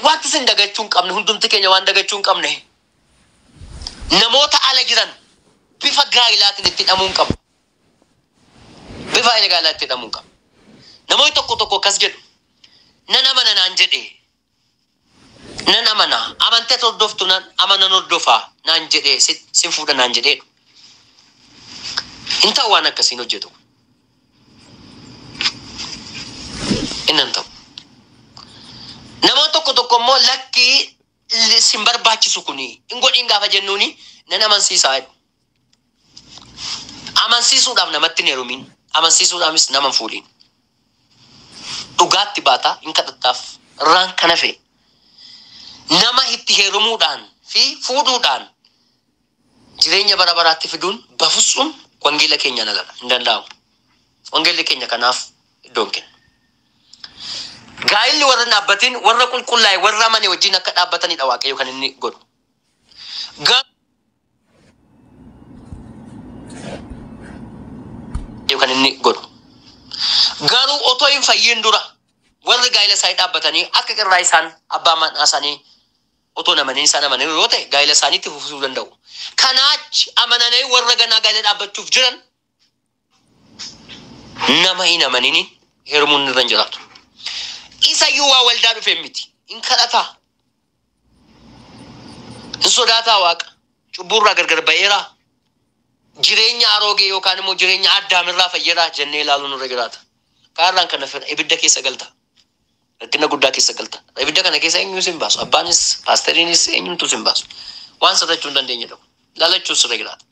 Wanti isin dagachuu hin qabne, hundumti keenya waan dagachuu hin qabne, namoota ala jiran bifa gaa'ilaatiin itti hidhamuu hin qabnu. Bifa gaa'ilaa itti hidhamuu hin qabnu. Namoonni tokko tokko akkas jedhu, nan amana naan jedhe, nan amana, amantees hordoftu nan amanan hordofa naan jedhe, si- sin fuudha naan jedheedhu. Hin ta'u waan akkasiin hojjetu. Inni hin ta'u. Namoota tokko tokko immoo lakkii li- sin barbaachisu kuni hin godhin gaafa jennuuni nan amansiisaa jedhu. Amansiisuudhaaf namatti hin heerumin. Amansiisuudhaanis nama hin fuudhin. Dhugaatti baataa hin kadhattaaf. Irraan kan hafe nama itti heerumuudhaan fi fuudhuudhaan jireenya bara baraatti fiduun bafutsuum wangeela keenyaan aladha. Hin danda'amu. Wangeelli keenya kanaaf iddoo hin kennu. Gaa'illi warra hin dhaabbatin warra qulqullaa'e warra amane wajjin akka dhaabbatanidha Waaqayyo kan inni godhu. Ga- kan inni godhu. Garuu otoo hin fayyin dura warri gaa'ila isaanii dhaabbatanii akka qirraa isaan abbaa manaa isaanii Otoo hin amaniin isaan amananiiru yoo ta'e, gaa'ila isaanii itti fufsiisuu danda'u. Kanaa achi, amananii warra ganaa gaa'ila dhaabbachuuf jiran nama hin amaniniin heerumuun irra hin jiraatu. Isa iyyuu waa waldaa dhufeen miti. In kadhataa? In sodaataa Waaqa? Cubbuu irraa gargar ba'eeraa? Jireenya aroogee yookaan immoo jireenya Addaamirraa fayyeeraa jennee ilaaluun irra jiraata. Kaarraan kana fedha ibidda keessa galta. Rakkina guddaa keessa galtan. Ibidda kana keessa eenyuu isin baasu? Abbaanis, paasteriinis eenyumtuu isin baasu. Waan sodachuu hin dandeenyedha kun. Lalachuun sirra jiraata.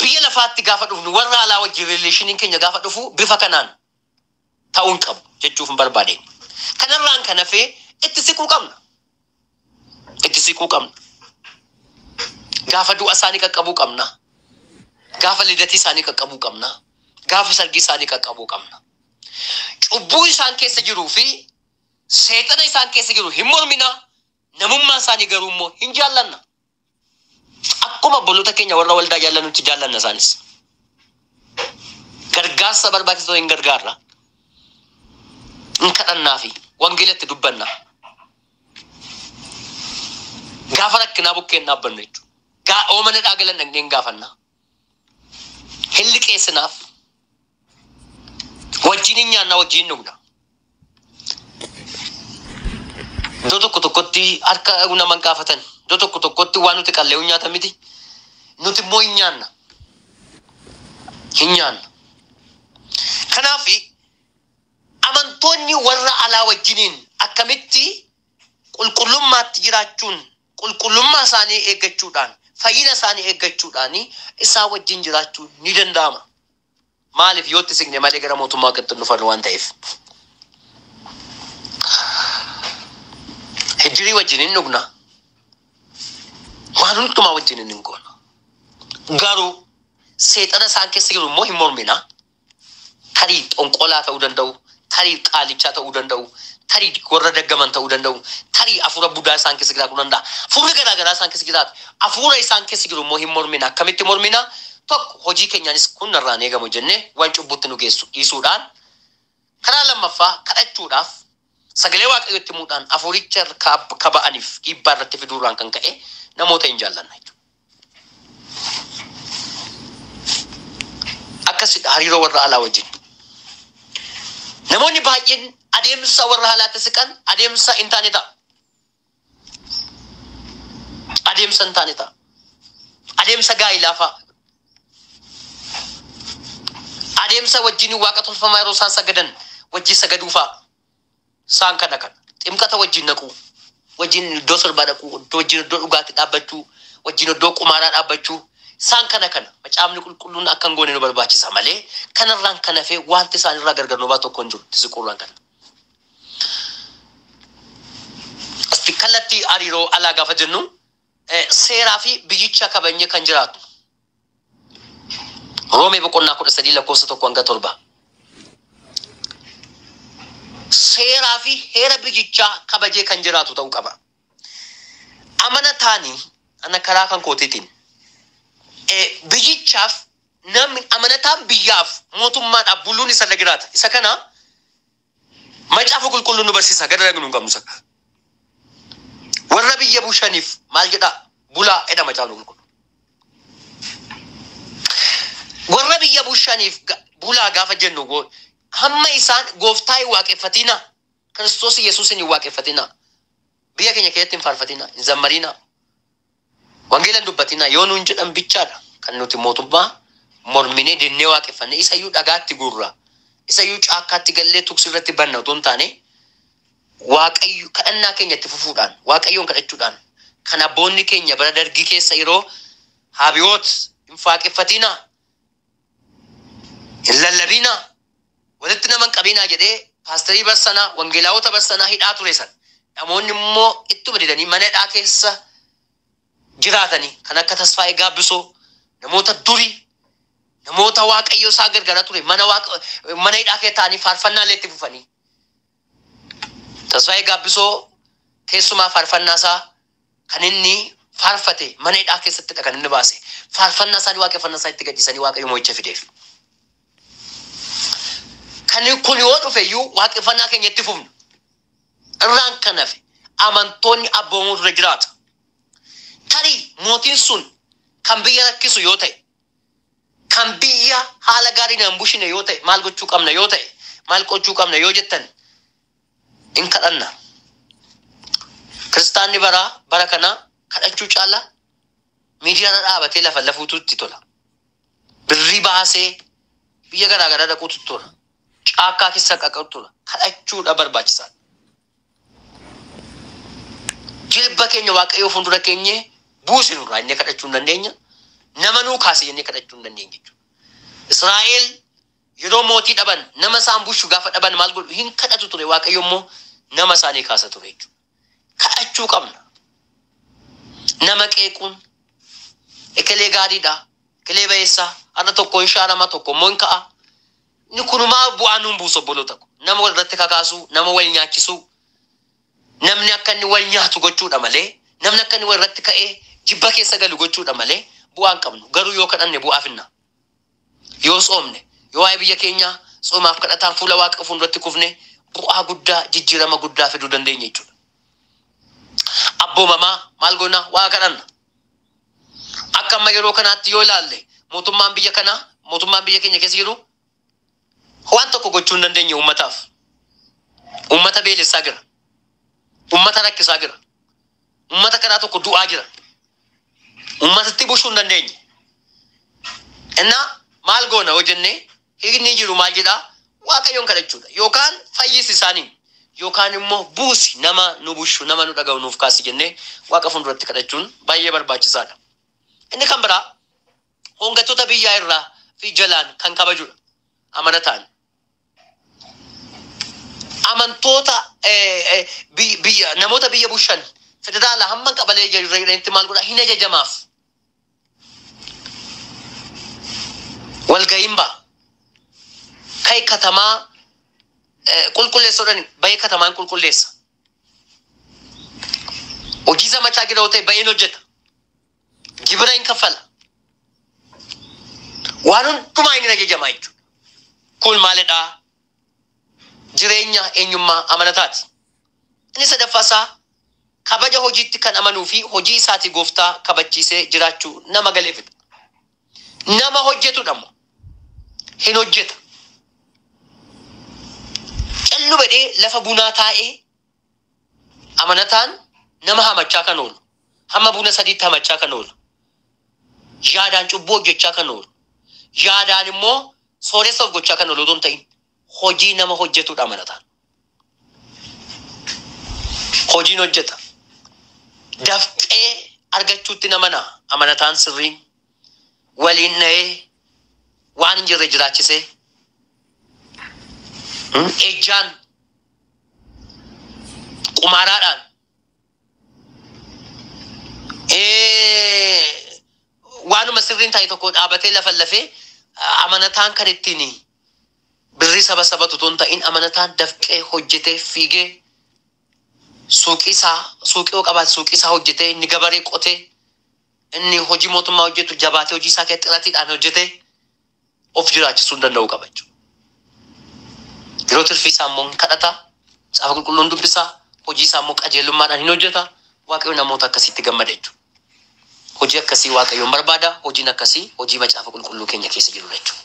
Biyya lafaatti gaafa dhufnu warra alaa wajjin rileeshiniin keenya gaafa dhufu bifa kanaan ta'uu hin qabu jechuuf hin barbaadeen. Kanarraan kan hafee itti siquu qabna. itti siquu qabna. Gaafa du'a isaanii qaqqabuu qabna. Gaafa lidatii isaanii qaqqabuu qabna. Gaafa sargii isaanii qaqqabuu qabna. Cubbuu isaan keessa jiruu fi seexana isaan keessa jiru hin mormina. Namummaa isaanii garuu immoo hin jaallanna. Akkuma obboloota keenya warra waldaa jaallannutti jaallanna isaanis. Gargaarsa barbaachisoo hin gargaarra. Hin kadhannaa fi wangeelatti dubbanna. Gaafa rakkinaa bukkeen dhaabbannu jechuudha. Gaa oomana dhaagalan dhaqneen gaafanna. hin liqeessinaaf. Wajjin hin nyaanna, wajjin hin dhugna. Iddoo tokko tokkotti harka nama hin gaafatan. Iddoo tokko tokkotti waan nuti qallee hin nyaatan miti. Nuti immoo hin nyaanna. Hin nyaanna. Kanaaf amantoonni warra alaa wajjiniin akkamitti qulqullummaatti jiraachuun qulqullummaa isaanii eeggachuudhaan, fayyina isaanii eeggachuudhaan isaa wajjin jiraachuun ni danda'ama. Maaliif? Yoo itti siqne malee gara mootummaa Waaqatti hin dhufannu waan ta'eef. Hiddirii wajjin hin dhugna. Waan hundumaa wajjin hin goona. Garuu seexana isaan keessa jiru immoo hin mormina. tarii xonqolaa ta'uu danda'u, tarii qaalichaa ta'uu danda'u, tarii warra daggaman ta'uu danda'u, tarii afuura budaa isaan keessa jiraatu danda'a. Afuurri garaa garaa isaan keessa jiraata. Afuura isaan keessa jiru immoo hin mormina. Akkamitti mormina? Tokko, hojii keenyaanis kun narraa hin eegamu jennee waan cubbuutti nu geessu dhiisuudhaan. Karaa lammaffaa, kadhachuudhaaf, sagalee Waaqayyoo itti himuudhaan, afuuricha irkaa akka ba'aniif dhiibbaa irratti fiduurraan kan ka'e namoota hin jaallanna jechuudha. Akkasidha hariiroo warra alaa wajjin. Namoonni baay'een adeemsa warra alaatti siqan adeemsa hin taane ta'a. Adeemsa hin taane ta'a. Adeemsa gaa'ilaa fa'a. Adeemsa wajjin waaqa tolfamaa yeroo isaan sagadan wajjin sagaduu fa'a. Isaan kana kana. Ximqata wajjin naquu, wajjin iddoo sirbaa dhaquu, iddoo wajjin iddoo dhugaatti dhaabbachuu, wajjin iddoo qumaaraa dhaabbachuu, isaan kana kana. Macaafni Qulqulluun akka hin goone nu barbaachisa malee kanarraan kan hafe wanti isaanirraa gargar nu baasu tokko hin jiru. Tisiquurraan kana. Asti kallattii hariiroo alaa gaafa jennu eh, seeraa fi biyyicha kabajnee kan jiraatnu. Roomee boqonnaa kudha sadii lakkoofsa tokko hanga torba. Seeraa fi heera biyyichaa kabajee kan jiraatu ta'uu qaba. Amanataan ana karaa kan kootiitiin eh, biyyichaaf namni amanataan biyyaaf mootummaadhaaf buluun isa irra jiraata. Isa kana Macaafa qulqulluun nu barsiisa gad ragnu hin qabnu sakka. Warra biyya bushaniif maal jedhaa bulaa jedha macaafni qulqullu. Warra biyya bushaniif ga- bulaa gaafa jennu goo- hamma isaan gooftaa hin waaqeffatinaa Kiristoos Yesuusin hin waaqeffatinaa biyya keenya keessatti hin faarfatinaa hin zammariinaa Wangeela hin dubbatinaa yoo nuun jedhan bichaa dha kan nuti mootummaa morminee dinnee waaqeffanne. Isa iyyuu dhagaatti guurra, isa iyyuu caakkaatti gallee tuksi irratti banna utuu hin taane, Waaqayyo, kadhannaa keenya itti fufuudhaan, Waaqayyoon kadhachuudhaan, kan abboonni keenya bara Dargii keessa yeroo Haabiwoot hin faaqeffatinaa! Hin lallabiinaa, walitti nama hin qabiinaa jedhee paasterii bar sana, wangeelaawota bar sana hidhaa ture sana. Namoonni immoo ittuma didanii mana hidhaa keessa jiraatani. Kan akka Tasfaayee Gaabbisoo, namoota durii, namoota Waaqayyo isaa gargaaraa ture mana, waaqa, mana hidhaa keessa taa'anii faarfannaa illee itti fufanii. Tasfaayee Gaabbisoo keessumaa faarfannaa isaa kan inni faarfate mana hidhaa keessattidha kan inni baase. Faarfannaa isaanii waaqeffannaa isaa itti gadhiisanii Waaqayyo mo'icha fideef. Kan kun yoo dhufe iyyuu waaqeffannaa keenya itti fufna. Irraan kan hafe amantoonni abboomuutu irra jiraata. Tarii mootiin sun kan biyya rakkisu yoo ta'e kan biyya haala gaariin hin bushine yoo ta'e maal gochuu qabna yoo ta'e maal qochuu qabna yoo jettan in kadhanna. Kiristaanni baraa bara kanaa kadhachuu caala miidiyaarra dhaabatee lafa lafuutu itti tola. Birrii baasee biyya garaa garaa dhaquutu tola. Caakkaa keessa qaqatu tola. Kadhachuudha barbaachisaa. jilba keenya waaqayyoo fuuldura keenyee buusi nurraa inni kadhachuu hin dandeenya nama nuu kaase jennee kadhachuu hin dandeenya jechuudha. Israa'el yeroo mootii dhaban nama isaan bushu gaafa dhaban maal godhu hin kadhatu ture waaqayyo immoo nama isaanii kaasa ture jechuudha. Kadhachuu qabna. Nama qeequun ekelee gaariidha ekelee bayeessaa har'a tokko hin shaarama tokko immoo hin ka'a Inni kun homaa bu'aa nuun buusu obboloota ko. Nama wal irratti kakaasuu, nama wal nyaachisuu, namni akka inni wal nyaatu gochuudha malee, namni akka inni wal irratti ka'ee jibba keessa galu gochuudha malee bu'aa hin qabnu. Garuu yoo kadhanne bu'aa finna. Yoo tsoomne, yoo waa'ee biyya keenyaa tsoomaaf kadhataan fuula Waaqa fuulduratti kufne bu'aa guddaa, jijjiirama guddaa fiduu dandeenya jechuudha. Abboomamaa maal goona? Waaqa kadhanna. Akka amma yeroo kanaatti yoo ilaalle mootummaan biyya kanaa, mootummaan biyya keenya keessa jiru waan tokko gochuu hin dandeenye uummataaf. Uummata beelessaa jira. Uummata rakkisaa jira. Uummata karaa tokko du'aa jira. Uummatatti bushuu hin dandeenye. Innaa maal goona yoo jennee Hiikni jiru maal jedhaa? Waaqayyoon kadhachuudha. Yookaan fayyisi isaaniin. Yookaan immoo buusi nama nu bushu, nama nu dhaga'u nuuf kaasi jennee Waaqa fuulduratti kadhachuun baay'ee barbaachisaadha. Inni kan biraa hoongattoota biyyaa irraa fi jalaan kan kabajudha. Amanataan amantoota eh, eh, biy- biyya namoota biyya bushan federaala hamma qabalee jiranitti maal godha hin ajajamaaf. walgayiin ba'a. Kai katamaa eh, qulqulleessa jedhani bahee katamaan qulqulleessa. Hojii zamachaa gidhaa'u ta'e baheen hojjeta. Gibira hin kaffala. Waan hundumaa inni ajajamaa jechuudha. Kun maalidhaa? jireenya eenyummaa amanataati. Inni sadaffaa isaa kabaja hojiitti kan amanuu fi hojii isaatii Gooftaa kabachiisee jiraachuu nama galeefidha. Nama hojjetudha immoo hin hojjeta. Callu bedhee lafa bunaa taa'ee amanataan nama hamachaa kan oolu, hamma buna sadiitti hamachaa kan oolu, yaadaan cubbuu hojjechaa kan oolu, yaadaan immoo Sooressa of gochaa kan oolu otoo hin ta'in hojii nama hojjetudha amanataan. Hojiin hojjeta. Dafqee argachuutti namana amanataan sirriin waliin dha'ee waan hin jirre jiraachisee ejjaan qumaaraadhaan waanuma sirriin taa'e tokko dhaabatee lafa lafee amanataan kan ittiin birrii saba sabatu tun ta'in amanataan dafqee hojjetee fiigee suuqii isaa suuqii yoo qabaate suuqii isaa hojjetee inni gabaree qotee inni hojii mootummaa hojjetu jabaatee hojii isaa keessatti xiratiidhaan hojjetee of jiraachisuu danda'uu qaba jechuudha. Yeroo tirfii isaa immoo hin kadhata, caafa qulqulluun dubbisa, hojii isaa immoo qajeelummaadhaan hin hojjeta. Waaqayyo namoota akkasiitti gammada jechuudha. Hojii akkasii Waaqayyoon barbaada. Hojiin akkasii hojii macaafa qulqulluu keenya keessa jirudha jechuudha.